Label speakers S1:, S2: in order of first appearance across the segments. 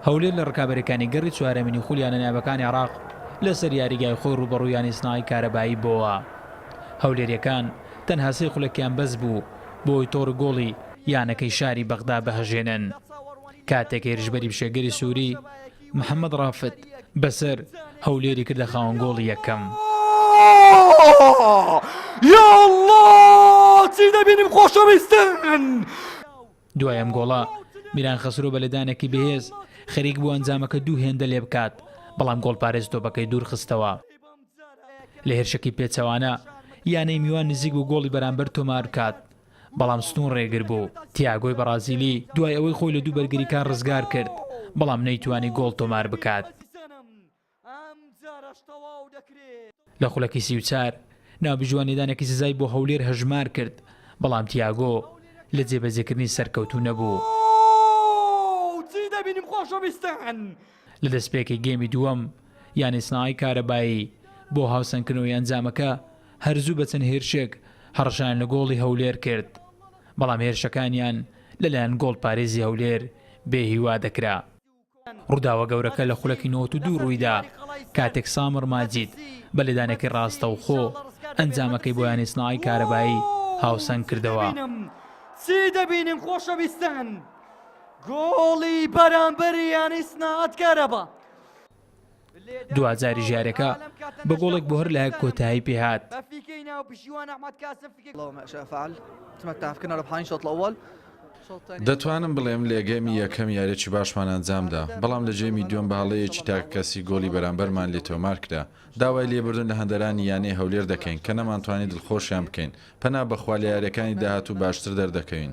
S1: هەولێر لە رکابەریەکانی گەڕی چوارەمینی خولی یانە نایابەکانی عێراق لەسەر یاریگای خۆی رووبەڕووی یانەی سنای کارەبایی بۆوە هەولێریەکان تەنها سێ خولەکیان بەس بوو بۆی تۆڕی گۆڵی یانەکەی شاری بەغدا بهەژێنن کاتێک هێرشبەری بشێگەری سووری محەمەد ڕافت، بەسەر، هەولێری کردە خاوەن گۆڵی یەکەم. یااللە چی دەبینم خۆشەویستن. دوای ئەم گۆڵە، میران خەسرۆ بە لێدانێکی بەهێز، خەریک بوو ئەنجامەکە دوو هێندە لێبکات، بەڵام گۆڵپارێز تۆپەکەی دوورخستەوە. لە هێرشێکی پێچەوانە، یانەی میوان نزیک بوو گۆڵی بەرامبەر تۆماربکات، بەڵام ستون رێگر بوو، تیاگۆی بەڕازیلی دوای ئەوەی خۆی لە دوو بەرگریکار رزگار کرد، بەڵام نەیتوانی گۆڵ تۆمار بکات. لە خولەکی سی و چوار، نابی جوانیدانێکی سزای بۆ هەولێر هەژمار کرد، بەڵام تیاگۆ لە جێبەجێکردنی سەرکەوتوو نەبوو. لە دەستپێکی گێمی دووەم، یانەی سنەعای کارەبایی بۆ هاوسەنگکردنەوەی ئەنجامەکە، هەر زوو بە چەند هێرشێک هەڕەشەیان لە گۆڵی هەولێر کرد، بەڵام هێرشەکانیان لەلایەن گۆڵپارێزی هەولێر بێ هیوا دەکرا. ڕووداوە گەورەکە لە خولەکی نەوەت و دوو ڕوویدا، کاتێک سامر ماجید بە لێدانێکی ڕاستەوخۆ ئەنجامەکەی بۆ یانەی سنەعای کارەبایی هاوسەنگ کردەوە. گۆڵی بەرامبەری یانی سناعەت کارەبا دواجاری ژارەکە بە گۆڵێک بۆ هەر لایەک کۆتایی پێهات دەتوانم بڵێم لەگەمی یەکەم یارێکی باشمان ئەنجامدا بەڵام لە جێمی دووەم باڵەیەکی تاک کەسی گۆڵی بەرامبەرمان لێ تۆمار کرا داوای لێبردن لە هەندەرانی یانەی هەولێر دەکەین کە نەمانتوانی دڵخۆشیان بکەین پەنا بەخوا لە یاریەکانی داهاتوو باشتر دەردەکەوین.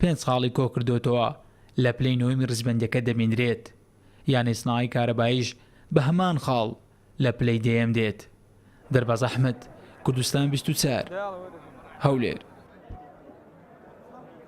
S1: پێنج خاڵی کۆکردۆتەوە لە پلەی نۆیمی ڕیزبەندیەکە دەبینرێت، یانەی سناعەی کارەبایش بە هەمان خاڵ لە پلەی دەیەم دێت. دەرباز ئەحمەد، کوردستان بیست و چوار، هەولێر.